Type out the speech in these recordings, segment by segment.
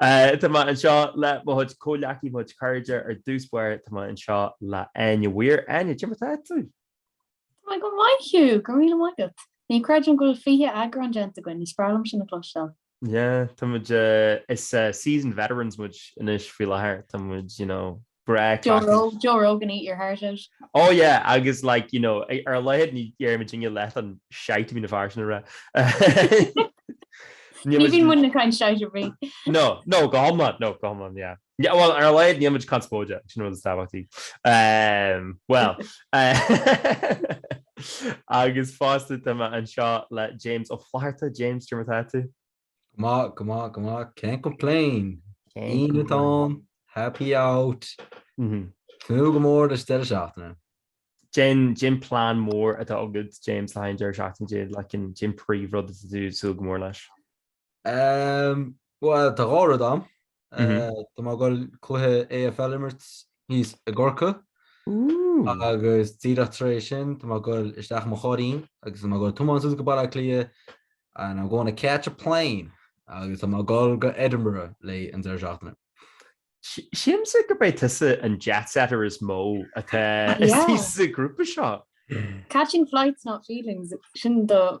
Tá mé anseo le mo chuid comhghleacaithe, mo chuid cairde. Ar dtús báire, tá mé anseo le Áine Mhaoir. Áine, cad é mar atá tú? Tá mé go maith Hugh, go raibh míle maith agat. Ní creidim go bhfuil 20 eagrán déanta againn, is breá liom sin a chloisteáil. Yeah, tá muid, is seasoned veterans muid anois faoi láthair, tá muid, you know, Breá craic. Joe Rogan eat your heart out. Oh yeah agus like you know ar a laghad ní dhéarfaidh muidne leath an shite a bhíonn na fir sin a rá. Ní bhíonn muidne ag caint shite ar bith. No no go hiomlán no go hiomlán yeah. Yeah well ar a laghad níl muid conspóideach sin an rud is tábhachtaí. Ehm well agus fosta tá mé anseo le James Ó Flatharta. James, cad é mar atá tú? Go maith, go maith, go maith. Can't complain. Aoine atá ann, happy out. Tnúth go mór leis deireadh seachtaine. Cén, cén plean mór atá agat, James, le haghaidh an deireadh seachtaine, cén, like an, cén príomhrud atá tú ag súil go mór leis. Umm, bhuel, tá dhá rud ann. Tá mé ag dul cluiche AFL a imirt thíos i gCorcaigh agus díreach tar éis sin tá mé ag dul isteach i mo chairrín agus tá mé ag dul ag tiomáint suas go Baile Átha Cliath and I'm going to catch a plane agus tá mé ag dul go Edinburgh le haghaidh an deireadh seachtaine. Sílimse gurb é tusa an jet setter is mó atá ins an ghrúpa seo. Catching flights not feelings, sin do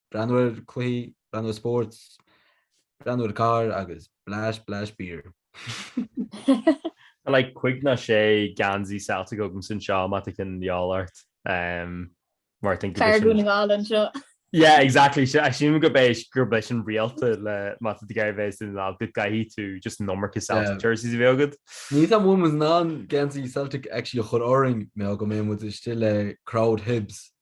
Breathnú ar chluichí, breathnú ar spórt, breathnú ar carr agus blais, blais beer. Tá like cúig nó sé geansaí Celtic agam anseo má tá ceann de dhíobháil ort. Mar think go bhfuil sin. Fear Dhún na nGall anseo. Yeah exactly assume gurb é gurb é sin an riail atá le má tá tú de do chuid Dhún na nGall go gcaithfidh tú just an iomarca Celtic jerseys a bheith agat. Níl muid in ann geansaí Celtic actually a chur orainn beidh muid istigh le crowd Hibs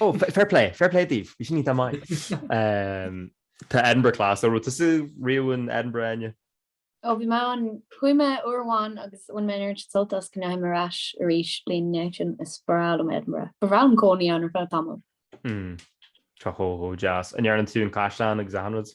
Ó, fair plé, fair plé daoibh, bhí sin an-mhaith. Tá Edinburgh class. Ó an raibh tusa riamh in Edinburgh Áine. Ó bhí mé ann, chuaigh mé uair amháin agus bhain mé an oiread sin sult as go ndeachaigh mé ar ais arís an bhliain ina dhiaidh sin, is breá liom Edinburgh. Ba bhreá liom cónaí ann ar feadh tamaill. Tá sé chomh deas. An ndearna tú an caisleán agus achan rud?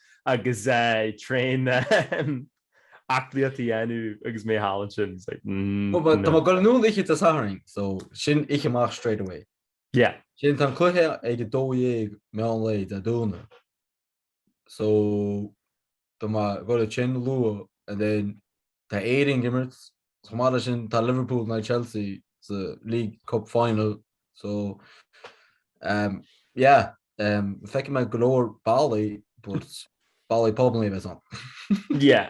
agus tréan aclaíochta a dhéanamh agus mé thall ansin. It's like mm But tá mé ag gabháil anonn oíche Dé Sathairn, so sin oíche amach straight away. Yeah. Sin tá an cluiche ag 12 meán lae Dé Domhnaigh. So tá mé ag gabháil ag dul chuige sin luath and then Tá Éirinn ag imirt. Chomh maith leis sin tá Liverpool nó Chelsea sa League Cup Final so um yeah um feicfidh mé go leor ballaí but ballaí probably a bheas ann. Yeah.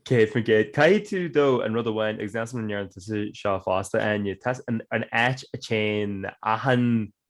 Céad faoin gcéad. Caithfidh tú dul an rud amháin agus níl a fhios agam an ndearna tú seo fosta Áine, tá an áit a téann achan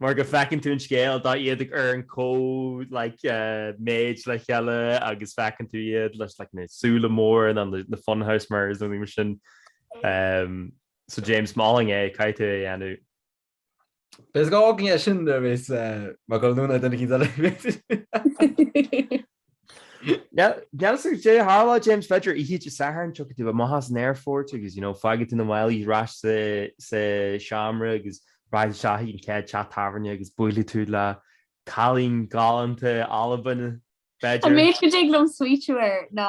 mar go bhfeiceann tú an scéal dá iad ar an comh like méid le chéile agus feiceann tú iad leis like na súile mór ins na funhouse mirrors nó rud mar sin. Ehm so James molaim é caithfidh tú é a dhéanamh. Is gá go ndeis sin ar bhéas eh, mar go luann na duine cinn eile. Deannas agus dé tharla James b'fhéidir oíche Dé Sathairn, tiocfaidh tú amach as an aerfort agus you know fágfaidh tú na málaí ar ais sa sa seomra agus rachaidh isteach chuig an chéad teach tábhairne agus buailfidh tú le cailín galánta Albain, b'fhéidir. An méid go dtig liom smaoitiú air ná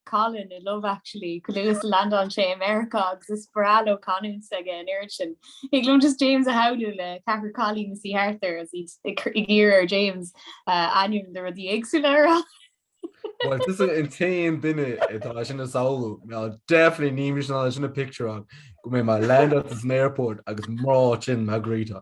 Colin i Love Actually, go luath is a landálann sé i Meiriceá agus is breá leo canúint aige an oiread sin. Thig liom just James a shamhlú le ceathrar cailín ina suí thart air is iad ag iarraidh ar James ainm do rudaí éagsúla a rá. Well tusa an t-aon duine atá sin a shamhlú ná definitely níl mise in ann sin a picture-áil go mbeidh mar land as an airport agus mná sin na gréta.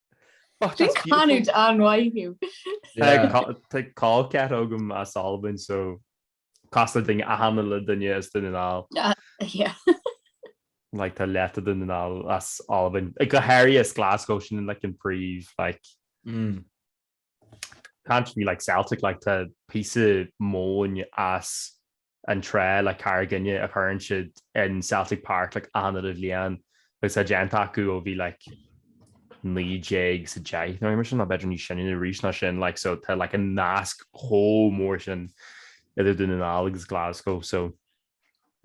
Sin canúint an-mhaith thú. Tá col ceathar agam as Albain so casta duine achan uile duine as Dún na nGall. Like tá leath de Dún na nGall as Albain. Ach go háirithe as Glasgow sin like an príomh like can't be like Celtic like tá píosa móin as an trá like Carraig Fhinn a chuireann siad in Celtic Park like achan uile bhliain agus tá déanta acu ó bhí like 19 sa deich nó mar sin nó b'fhéidir níos sine arís ná sin like so tá like an nasc chomh mór sin idir Dún na nGall agus Glasgow so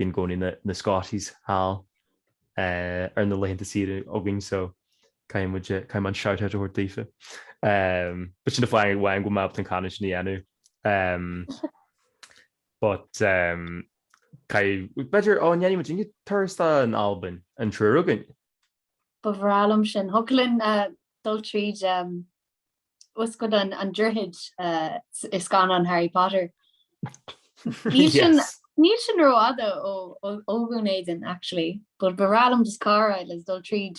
bíonn i gcónaí na, na Scotties thall uh, ar na laethanta saoire againn so Caithfidh muid, caithfidh mé an shout out a thabhairt daofa. But sin fine, fine go mbeadh tú chun é sin a dhéanamh. But caithfidh, b'fhéidir, go ndéanfaidh muid aon turas don Albain an triúr againn. Ba bhreá liom sin. Thiocfadh linn dul tríd tá's agat an droichead i scannán Harry Potter. Níl sin, níl sin rófhada ó Dhún Éideann actually, but ba bhreá liom just carr a fháil is dul tríd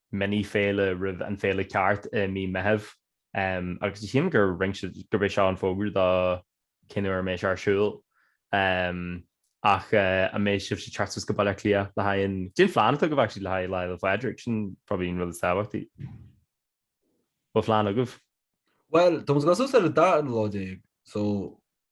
mini féile roimh an féile ceart i mí Meithimh agus chím gur rinc siad gurb é seo an fógra do cén uair a mbeidh sé ar siúl. Ach an mbeidh sibhse ag teacht suas go Baile Átha Cliath le haghaidh an. Cén plean atá agaibh actually le haghaidh Lá 'le Pádraig? Sin probably an rud is tábhachtaí. Bhfuil plean agaibh? Bhuel, tá muid ag dul suas ar an 12 so.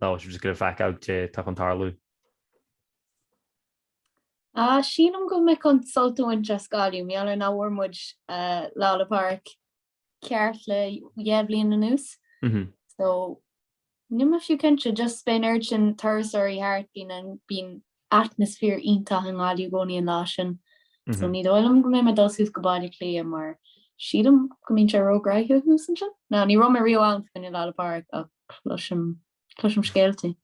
Now I should just go bhfeicfidh cad atá chun tarlú. Ah, sílim go mbeidh mé chun sult a bhaint as Gaillimh, mar gheall nach bhfuair muid eh, Lá 'le Pádraig ceart le dhá bhliain anuas. Mhm. So, níl mé fiú cinnte, just beidh an oiread sin turasóirí thart, bíonn an- bíonn atmaisféar iontach i nGaillimh i gcónaí an lá sin so ní dóigh liom go mbeidh mé ag dul suas go Baile Átha Cliath mar sílim go mbíonn sé róghnoitheach thuas ansin. No, ní raibh mé riamh ann fá choinne Lá Fhéile Pádraig ach cloisim, cloisim scéaltaí.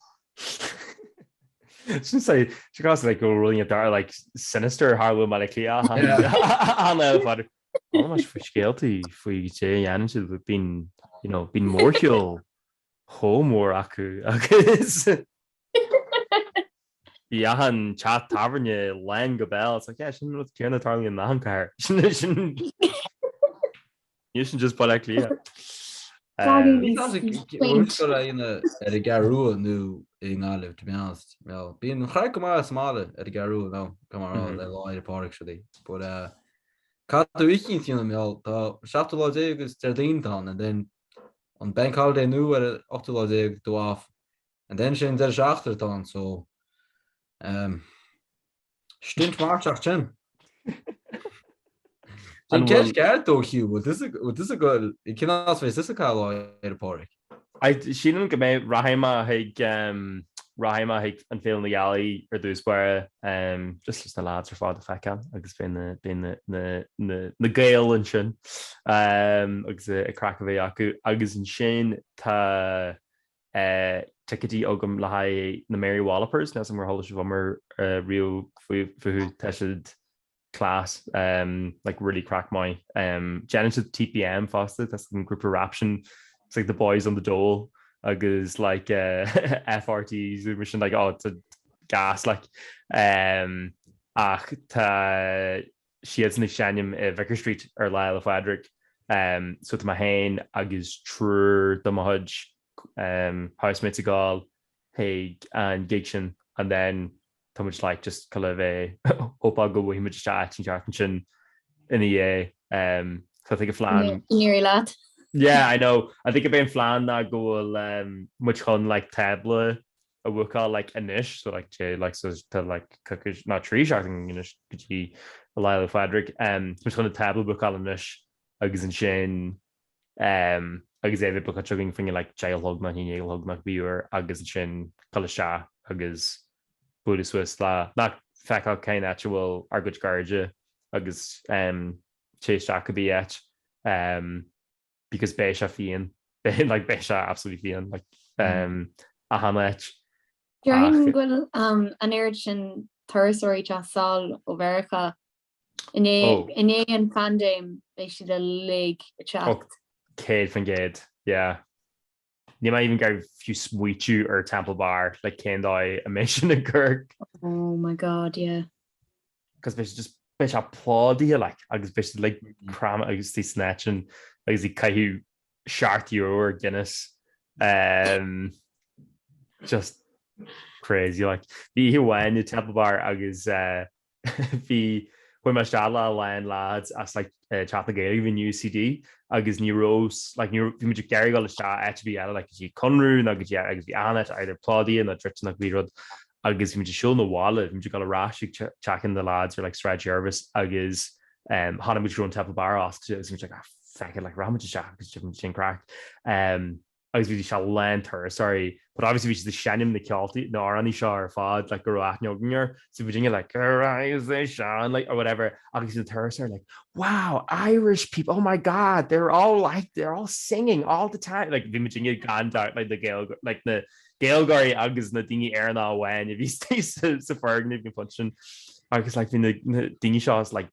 Sin sé, she got like a really dark like sinister tharla i mBaile Átha Cliath ar Lá Fhéile Pádraig. Tá muid faoi scéaltaí faoi caidé a dhéanann siad bíonn, you know, bíonn mórshiúl chomh mór acu agus bíonn achan teach tábhairne lán go béal. It's like, yeah, sin an rud céanna a tharlaíonn in achan cathair. Níl sin just Baile Átha Cliath. Níl mé sure go raibh mé ar an gCeathrú Rua nó i nGaillimh, to be honest. Well, bíonn an chraic go maith sa mbaile ar an gCeathrú Rua nó go mar áil Lá Fhéile Pádraig siúd í. But, cad a fhícinn fiúna mbeal, tá 17 lá agus Déardaoin atá ann and then an Bank Holiday nua ar an 18ú lá déag de Mhárta and then sin deireadh seachtaine atá ann so um, stint marfach sin. Sin ceist ceart dó Hugh, bhfuil tusa bhfuil tusa goidé, cén áit a bheas tusa Lá Fhéile Pádraig? Sílim go mbeidh rachaidh mé chuig um, rachaidh mé chuig an Féile na Gealaí ar dtús báire um, just leis na lads ar fad a fheiceáil agus beidh na, beidh na, na, na, na Gaeil ansin. agus an chraic a bheith acu agus ansin tá ticéadaí agam le haghaidh na Mary Wallopers, níl a fhios agam ar chuala sibh iomrá riamh fúthu, tá siad class, like really craic maith. Déanann siad TPM fosta, tá an grúpa rap sin, it's like the boys on the dole agus like FRT agus mar sin, like oh it's gas like. Ach tá siadsan ag seinm i Vicar Street ar Lá Fhéile Pádraig so tá mé féin agus triúr de mo chuid housemates ag dul chuig an gig sin and then tá muid like just ag gabháil a bheith hopeful go bhfaighimid isteach áit inteacht ansin ina dhiaidh um, so I think a flan near lad yeah I know I think gurb é an plean ná go bhfuil um, muid chun like table a bhookáil like anois so like téigh like so tá like coicís nó trí seachtaine anois go dtí Lá Fhéile Pádraig um tá muid chun an tábla a bhookáil anois agus ansin um agus é a bheith bookáilte againn fá choinne like deich a chlog nó haon déag a chlog nó cibé uair agus ansin gabháil isteach agus bualadh suas le, nó féach cén áit a bhfuil ár gcuid cairde agus um téigh isteach cibé áit um. because beidh sé fiáin like beidh sé absolutely fiáin like um, achan áit. Déarfainn go bhfuil um, an oiread sin turasóirí ag taisteal ó Mheiriceá i ndiaidh, oh. i ndiaidh an phaindéim beidh siad uilig ag teacht. Oh, céad faoin gcéad, yeah. Níl mé even ag iarraidh fiú smaoitiú ar Temple Bar, like cén dóigh a mbeidh sin i gCork. Oh my God, yeah. Cos beidh sé just, beidh sé plódaithe like agus beidh sé like crammed agus tí snatching agus ag caitheamh seacht euro ar Guinness. Um, just crazy like. Bhí oíche amháin i Temple Bar agus uh, Bhí chuaigh mé isteach le a lán lads as like Teach na Gaeilge in UCD agus ní raibh like ní raibh bhí muid ag iarraidh dul isteach áit ar bith eile like go dtí Conradh nó go dtí agus bhí an áit either plódaithe nó druidte nó cibé rud agus bhí muid ag siúl na bhaile bhí muid ag dul ar ais ag teach na lads ar like Sráid Jervis agus um chonaic muid go raibh an Temple Bar oscailte agus bhí muid like ah feck it like rachfaimid isteach agus déanfaidh muid sin craic. Um. agus bhí sé lán turasóirí but obviously bhí siad ag seinm na ceoltaí, na amhránaí seo ar fad like go raibh aithne againn air so bhí muidne like arise the sun like or whatever agus bhí na turasóirí like wow Irish people oh my god they're all like they're all singing all the time like bhí muidne gan dabht like na Gaeilg like na Gaeilgeoirí agus na daoine Éireannacha amháin a bhí sa foirgneamh ag an phointe sin agus like bhí na daoine seo as like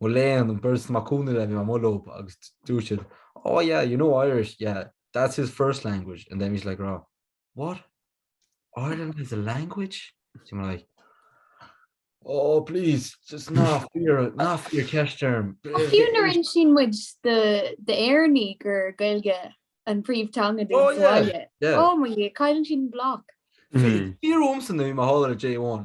Mo léan an beirt Mac Cumhna le mé mar mhullóg agus dúirt siad, Aw yeah, you know Irish, yeah, that's his first language and then he's like rah, what? Ireland has a language? So we're like, Aw please, just ná fiafraigh, ná fiafraigh ceist orm. Ach fiú nuair insíonn muid d'Éireannaigh gur Gaeilge an príomhtheanga dúinn sa bhaile, oh mo Dhia, cailleann siad an bloc. Bhí fíor uaim san uaim a tharla le J1,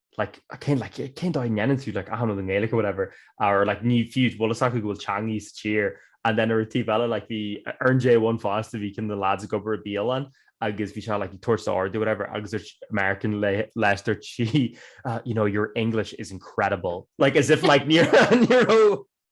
like, cén like, cén dóigh a ndéanann tú like, I don't know i nGaeilge or whatever, or like, ní fiú go bhfuil a fhios acu go bhfuil teangaidh sa tír and then ar an taobh eile like, bhí ar an J1 fosta bhí ceann de na lads ag obair i bialann agus bhí sé like, ag tabhairt ordú whatever agus dúirt American leis dúirt sí, you know, your English is incredible like, as if like, ní raibh.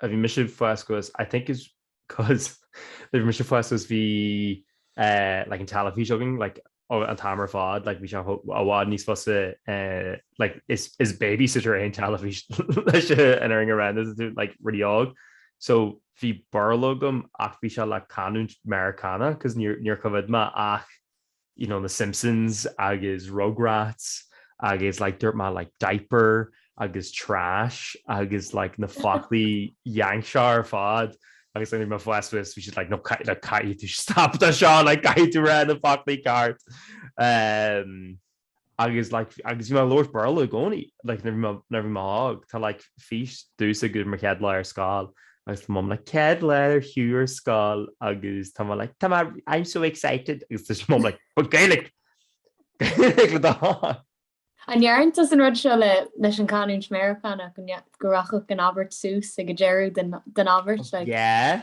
a bhí mise ag fás suas I think it's cos nuair a bhí mise ag fás suas bhí eh like an teilifís againn like oh an t-am ar fad like bhí sé i bhfad níos fusa eh like is is babysitter é an teilifís leis an fhírinne a rá nuair atá tú like really óg so bhí Béarla agam ach bhí sé le canúint Meiriceánach cos níor níor choimhead mé ach you know, The Simpsons agus Rugrats agus like dúirt mé like diaper agus trash agus like na foclaí Yank seo ar fad agus like mo bhás bhí siad like no caith like caithfidh tú stop de seo like caithfidh tú rá na foclaí ceart. Um. Agus like agus bhí mé ag labhairt Béarla i gcónaí like nuair bhí mé nuair bhí mé óg. Tá like fís domhsa ag mo chéad lá ar scoil agus tá Mum like Céad lá do Hugh ar scoil agus tá mé like tá mé I'm so excited agus tá Mum like But Gaeilge! Gaeilge le do thoil! An ndearna tusa an rud seo le leis an chanúint Meiriceánach go rachadh an abairt suas ag an deireadh den abairt like? Yeah.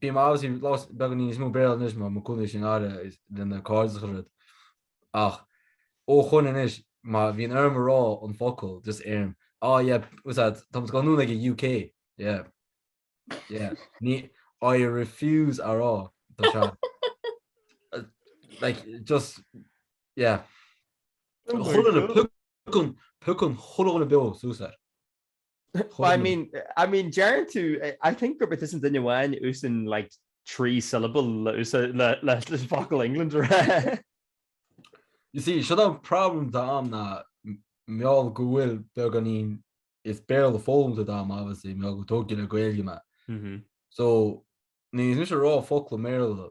Bíonn mé obviously labhairt beagán níos mó Béarla anois má má cúnamh sin aire lena cairdeas chun rud ach ó shoin anois má bhíonn orm a rá an focal just deirim ah yeah what's that tá muid ag goil anonn ag an UK yeah yeah ní I refuse a rá tá sé like just yeah chun an chun chun chun chun beo súsar But I mean, I mean, dearn tú, I think gurb is an duine amháin úsann like trí syllable le focal England a rá You see, sin an problem atá agam ná mar gheall go bhfuil beagáinín is Béarla foghlamtha agam obviously, mar gheall gur tógadh le Gaeilge mé. So, níl mise ag rá focla i mBéarla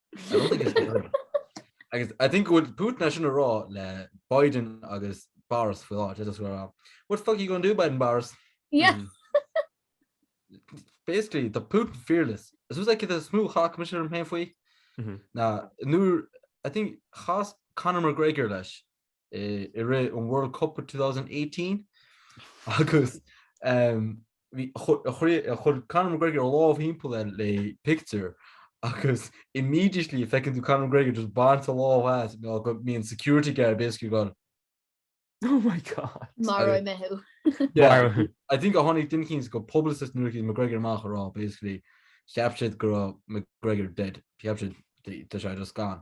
agus I think would put national raw le Biden agus bars for that just where up what fuck you gonna do Biden bars yeah mm. basically the Putin fearless as soon as I get a smooth ha commissioner from halfway mm-hmm. na nu I think has Conor McGregor leis i rith an World Cup 2018 agus chuir Conor McGregor a lámh timpeall air le pictiúr agus immediately feiceann tú Conor McGregor just ag baint a lámh as ná go mbíonn security guard basically ag goil. Oh my god. Maróidh mé thú. Yeah, I think gur tháinig duine éicint go publicist nuair a chuaigh McGregor amach ag rá basically cheap siad go raibh McGregor dead. Cheap siad tá sé just gone.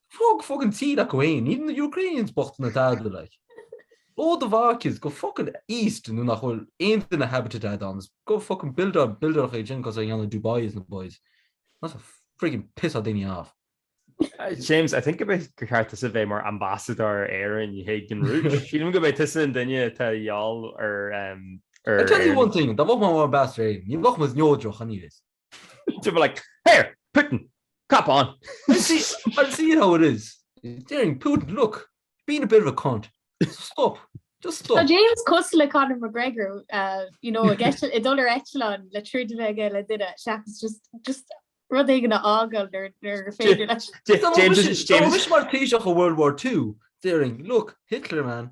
Fág fág an tír acu fhéin, even the Ukrainians bocht na dada like. Ó do mhac is go fucking east nó nach bhfuil aon duine habited ann is, go fucking build our buildearach é sin cos a dhéanamh Dubai is na boys. That's a friggin pissáil daoine off. James, I think go mba cheart tusa a bheith mar ambassador Éireann le haghaidh an Rúis. Sílim gurb é tusa an duine atá gheall ar I tell you one thing, dá bheadh mé mar ambassador Éireann, ní bheadh muid neodrach anyways. They were like, Here! Putin! Cop on! I see, I see how it is. Déarfainn, Putin, look, you're being a bit of a cunt. So stop. Just stop. Tá James cosúil le Conor McGregor, uh, you know, ag eitil, ag dul ar eitleán le troid a bheith aige le duine, seachas just, just rud éigin a fhágáil nuair, nuair gur féidir leis. J- James, James, James mar taoiseach ó World War Two. Déarfainn, look, Hitler, man.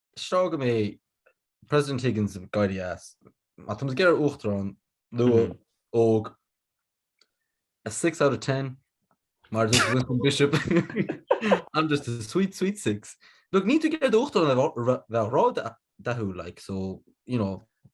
Seo go mbeidh President Higgins ag éirí as, má tá muid ag iarraidh Uachtarán nua óg, a six out of ten, mar a dúirt Winston Bishop, I'm just a sweet, sweet six. Like, níl tú ag iarraidh do Uachtarán a bheith ródhathúil, like, so, you know,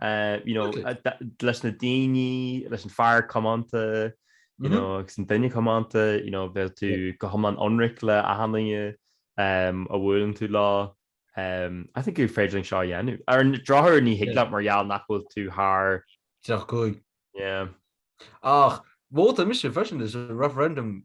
leis na daoine, leis an fear comónta agus an duine comónta bheadh tú go hiomlán ionraic le achan duine a bhuaileann tú leo. I think gur féidir linn seo a dhéanamh. Ar an drochuair ní thig leat mar gheall nach bhfuil tú thar tríocha cúig. Yeah. Ach vótáil mise freisin leis an referendum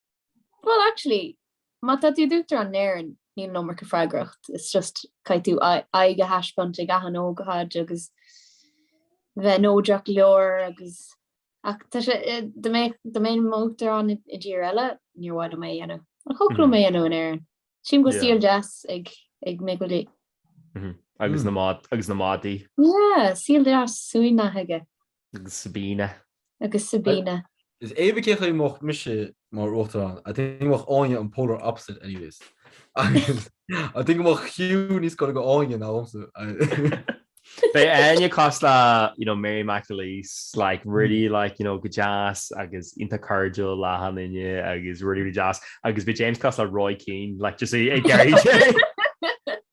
Bhuel actually má tá tú i d'uachtarán in Éirinn níl an iomarca freagracht it's just caithfidh tú d'aghaidh a thaispeáint ag achan ócáid agus bheith neodrach go leor agus ach tá sé dá mbeinn dá mbeinn i m'uachtarán i dtír eile níor mhaith liom é a dhéanamh ach thiocfadh liom é a dhéanamh in Éirinn. Sílim go bhfuil saol deas ag ag Michael D. Agus na agus na madaí. Yeah, saol deas, suaimhneach aige. Agus Sabina. Agus Sabina. Is even cé chaoi mbeadh mise mar Uachtarán, I think go mbeadh Áine an polar opposite anyways. Agus I think go mbeadh Hugh níos gaire do Áine ná domsa. Bheadh Áine cosúil le you know Mary McAleese, like really like you know go deas agus iontach cairdiúil le hachan duine agus really really deas agus bheadh James cosúil le Roy Keane, like just é ag iarraidh ag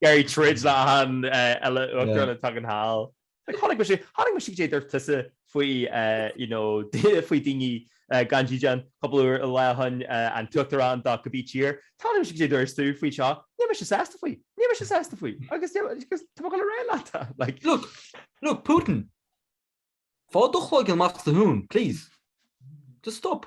iarraidh troid le hachan Uachtarán a thagann anall. Like chonaic mise, chonaic mise cad é a dúirt tusa faoi eh you know faoi daoine eh gan dídean cúpla lá ó shin eh an t-uachtarán de cibé tír, chonaic mise cad é a dúirt tú faoi seo, níl mise sásta faoi, níl mise sásta faoi agus níl agus tá mé ag dul a rá leat eh like. Look, look, Putin, faigh do chloigeann amach as do thóin, please. Just stop.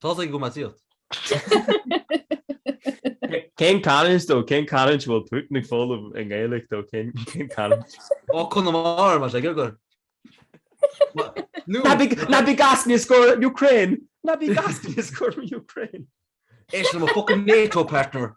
Tá's ag gramadaíocht. Cén chanúint though? Cén chanúint a bhfuil Putin ag foghlaim i nGaeilge dó? Cén cailliúint? Ó, Conamara, más ag obair. Nó, Ná bí gas níos scór Ukraine! Ná bí gas níos scór Ukraine! Éist le mo fucking NATO partner!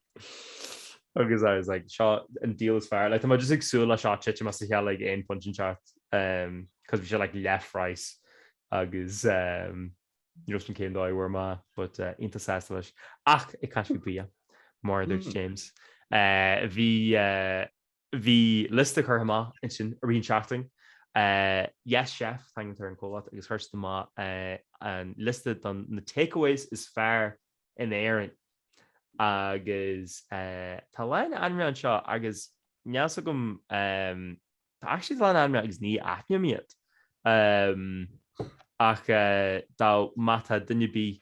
agus I was like seo an deal is fear, like tá just ag súla seo te mas he like ein punch in chat um cos vi se like left rice agus um Justin céim dóid bhar má but uh, intasá leis ach i caiisi bí mar dúirt hmm. James. Uh, bhí uh, Bhí liosta curtha amach ansin i rith an tseachtain. Yes chef, a thugtar ar an comhlacht agus chuir siad amach an liosta don na takeaways is fearr in Éirinn agus tá a lán ainmneacha anseo agus níl a fhios agam tá actually a lán ainmneacha agus ní aithním iad ach dá má tá duine ar bith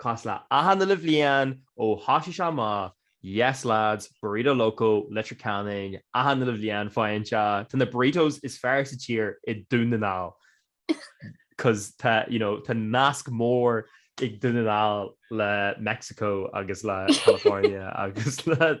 Cosúil le achan uile bhliain ó thosaigh sé amach, Yes lads, Burrito Loco, Leitir Ceanainn, achan uile bhliain faigheann siad. Tá na burritos is fearr sa tír i Dún na nGall. Cos tá, you know, tá nasc mór ag Dún na nGall le Mexico agus le California agus le.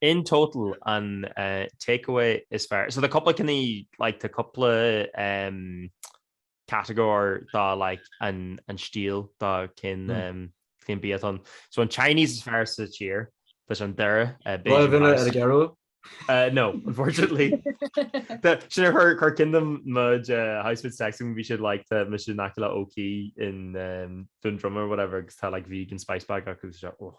In total an take away is fearr, so tá cúpla ceann like tá cúpla category dá like an an stíl dá cén cén bia atá ann. So an Chinese is fearr sa tír tá sé i nDoire eh, Bhfuil Beijing duine ar a House. gcearú? Uh, no, unfortunately. Tá- Sin ar chur chur i gcuimhne dom mud house with sex bhí siad like tá mis sin aice le OK in um, dún drum or whatever agus tá like vegan spice bag acu agus sé oh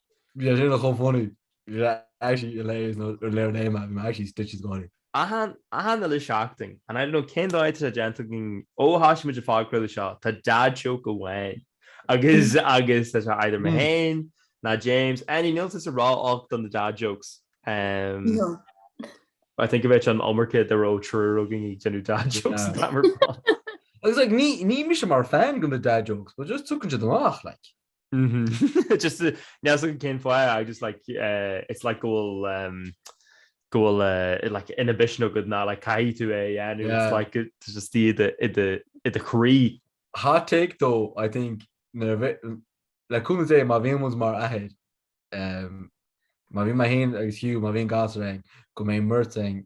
Bhí sé sin chomh funny. Bhí sé actually hilarious nuair a léigh léigh mé é. Bhí mé actually stitches ag gáire. Achan achan uile seachtain. And I don't know cén dóigh atá sé déanta againn ó thoisigh muid an podchraoladh seo, tá dad joke amháin agus agus tá sé either mé féin ná James, Áine níl tusa ró-olc do na dad jokes. No. I think go mbeadh an iomarca dá raibh triúr againn ag déanamh dad jokes an t-am ar fad. Agus like ní ní mise mar fan go na dad jokes but just tagann siad amach like. Just níl a fhios agam cén fáth I just like eh, it's like go bhfuil em, go bhfuil eh, like inhibition agad ná like caithfidh tú é a dhéanamh, it's Yeah. like it's just í i do- i do- i do chroí. Hot take though, I think, nuair a bhi- le cúnamh Dé má bhíonn muid mar athair, em, má bhíonn mé féin agus Hugh, má bhíonn gasúr againn, go mbeidh muid ag,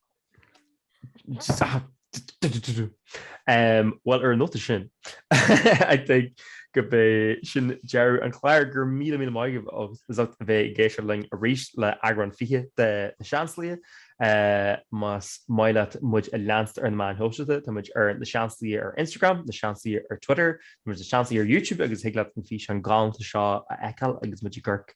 Bhuel, ar an nóta sin, I think go b'é sin deireadh an chláir. Go raibh míle míle maith agaibh as ucht a bheith ag éisteacht linn arís le eagrán fiche de Na Seansálaithe. Más maith leat muid a leanstan ar na meáin shóisialta, tá muid ar Na Seansálaithe ar Instagram, Na Seansálaithe ar Twitter, tá muid ar Na Seansálaithe ar YouTube agus thig leat an físeán galánta seo a fheiceáil agus muid i gCorc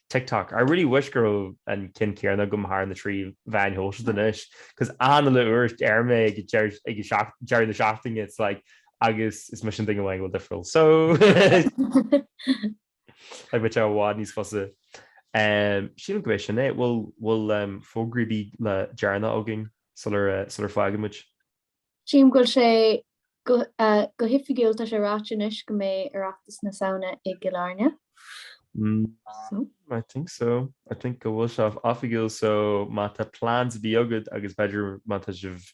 TikTok. I really wish go raibh an cinn céanna agam thar na trí mheán shóisialta anois, cos achan uile uair a deir mé ag deireadh na seachtaine, it's like, agus is mise an duine amháin atá difriúil, so like bheadh sé i bhfad níos fusa. Sílim go b'é sin é, bhfuil fógraí ar bith le déanamh againn sular fágann muid? Sílim go bhfuil sé go hoifigiúil, tá sé ráite anois go mbeidh Oireachtas na Samhna i gCill Airne. I think so. I think go bhfuil sé oifigiúil so má tá plans ar bith agat agus b'fhéidir má tá sibh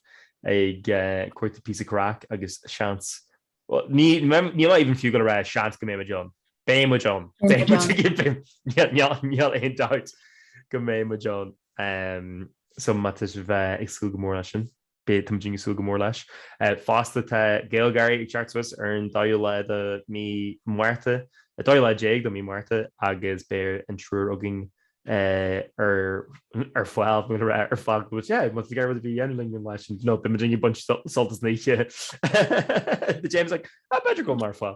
ag cuartú píosa craic agus seans, bhuel ní níl mé even fiú ag gabháil a rá seans go mbeimid ann, beidh muid ann, beidh muid ag imeacht, níl aon dabht go mbeidh muid ann so má tá sibh ag súil go mór leis sin. Beidh, tá muid ag súil go mór leis. Fosta tá GaelGÁIRÍ ag teacht suas ar an 12ú lá de mhí Márta, 12ú lá de mhí Márta agus beidh an triúr againn ar ar fáil bhfuil mé ag rá ar fáil go bhfuil, yeah, más gá rud ar bith a dhéanamh linn an lá sin, no, beidh muid ag baint sult as an oíche. Tá James like, ah b'fhéidir go bhfuil mé ar fáil.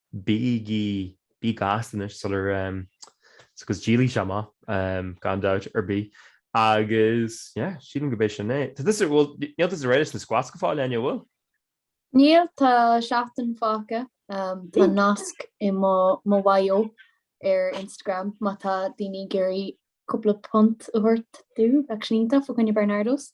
Bígí gasta anois sula, is go ndíolfaidh sé amach, gan dabht ar bith, agus, yeah, sílim gurb é sin é. Tá tusa, bhuel, níl tusa réidh leis na squats go fóill, Áine, a bhfuil? Níl, tá seachtain fágtha, tá nasc i mo bio ar Instagram má tá daoine ag iarraidh cúpla punt a thabhairt domh, bheadh sin iontach, faoi choinne Barnardo's.